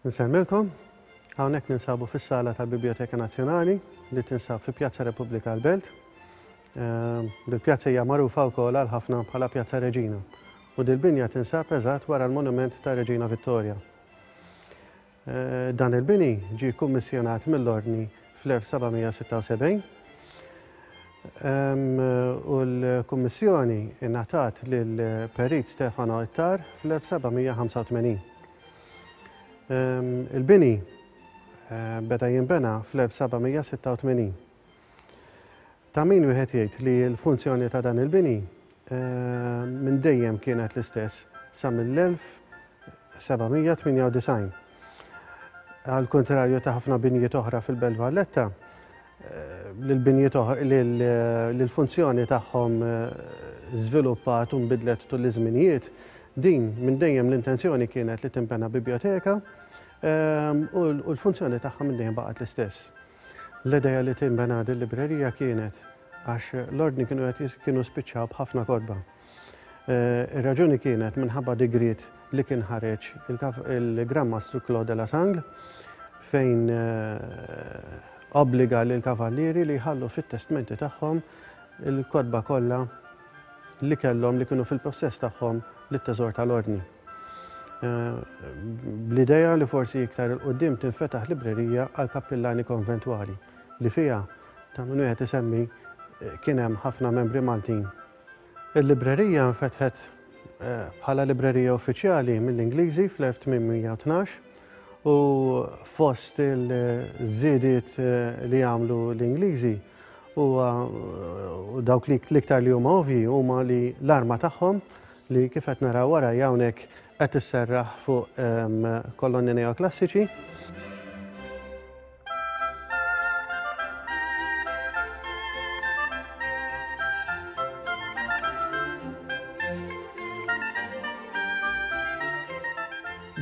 Nsemmilkom, hawnhekk ninsabu fis-sala tal-Biblioteka Nazzjonali li tinsab fi Pjazza Repubblika l-Belt. Ehm, dil-pjazza hija magħrufa wkoll għal ħafna bħala Pjazza Reġina u dil-binja tinsab eżatt wara l-monument ta' Reġina Vittoria. Dan il-bini ġie kkummissjonat mill-Ordni fl-1776 u l-kummissjoni ngħatat lill-Perit Stefano Ittar fl-1785. Il-bini beda jinbena fl-1786. Ta' min wieħed jgħid li l-funzjoni ta' dan il-bini minn dejjem kienet l-istess sa mill-1798. Għall-kuntrarju ta' ħafna binjiet oħra fil-Belt Valletta, l-funzjoni tagħhom żviluppat u nbidlet tul iż-żminijiet, din minn dejjem l-intenzjoni kienet li tinbena bibjoteka u l-funzjoni tagħha minn dejjem baqgħet l-istess. L-idea li tinbena din librerija kienet għax l-ordni kienu qed kienu spiċċaw b'ħafna kotba. Eh, ir-raġuni kienet minħabba digriet li kien ħareġ il-Gran Mastru Claude de la Sang fejn eh, obbliga l kavallieri li jħallu fit-testmenti tagħhom il-kodba kollha li kellhom li kienu fil-possess tagħhom lit-teżor tal-ordni. bl-idea li forsi iktar 'il quddiem tinfetaħ librerija għall-kappillani konventwali li fiha, ta' min wieħed isemmi, kien hemm ħafna membri Maltin. Il-librerija nfetħet bħala librerija uffiċjali mill-Ingliżi fl-1812 u fost il-żiediet li għamlu l-Ingliżi huwa, u dawk li l-iktar li huma ovvji, huma li l-arma tagħhom li kif qed naraw wara hawnhekk qed isserraħ fuq ehm, kolonni neoklassiċi.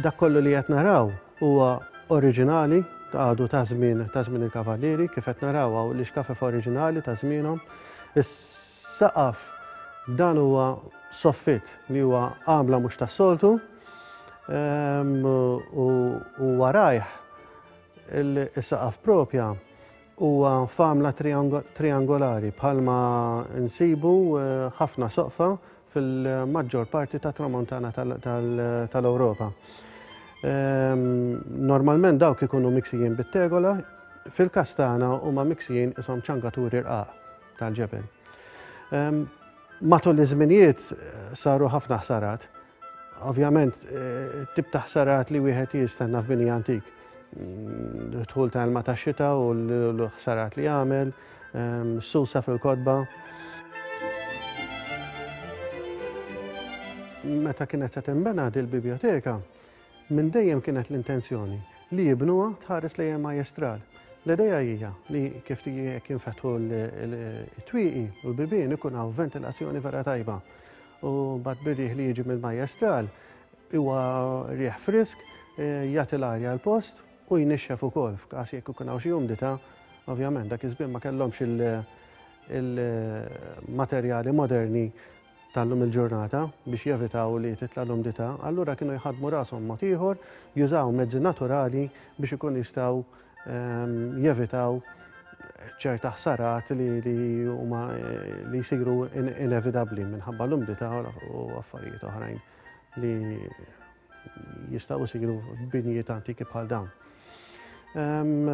dak kollu li qed naraw huwa oriġinali ta' għadu ta' żmien ta' żmien il-kavallieri kif qed naraw hawn l-ixkafef oriġinali ta' żmienhom. Saqaf, Dan huwa soffitt li huwa għamla mhux tas-soltu u warajh is-saqaf proprja huwa f'għamla triangolari bħalma nsibu ħafna soqfa fil-maġġor parti tat-Tramuntana tal-Ewropa. Normalment dawk ikunu miksijin bit-tegola, fil-każ tagħna huma miksijin qishom ċangaturi rqaq. tal-ġebel. Matul iż-żminijiet saru ħafna ħsarat. Ovvjament, eh, tip ta' ħsarat li wieħed jistenna f'bini antik. Mm, dħul ta' ilma ta' xita u l-ħsarat li għamel, susa fil-kodba. Meta kienet se tinbena dil-biblioteka, Minn dejjem kienet l-intenzjoni li jibnuha tħares lejn il-majjestral. L-idea hija li kif jekk jinfetħu t-twieqi u l-bibien ikun hawn ventilazzjoni vera tajba. U bad bir-riħ li jiġi mill-majjestral huwa riħ frisk eh, jagħti l-arja l-post u jnixxef ukoll f'każ jekk ikun hawn xi umdità, ovvjament dak iż-żmien ma kellhomx il-materjali moderni tal-lum il-ġurnata biex jevitaw li titla' l-umdità, allura kienu jħaddmu rashom mod ieħor, jużaw mezzi naturali biex ikun jistgħu ehm, jevitaw ċerta ħsarat li huma li jsiru inevitabbli minħabba l-umdità u affarijiet oħrajn li jistgħu jsiru f'binjiet antiki bħal dawn. Ehm,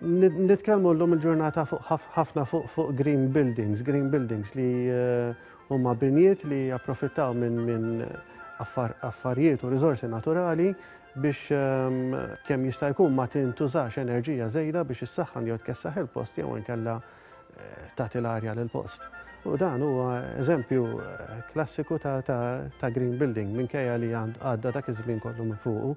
Nitkellmu llum il-ġurnata fuq ħafna fuq green buildings, green buildings li eh, huma binjiet li japprofittaw minn affarijiet u riżorsi naturali biex ehm, kemm jista' jkun ma tintużax enerġija żejda biex issaħħan jew tkessaħ il-post jew inkella tagħti l-arja lill-post. U dan huwa eżempju klassiku ta' green building minkejja li għadda dak iż-żmien kollu minn fuqu.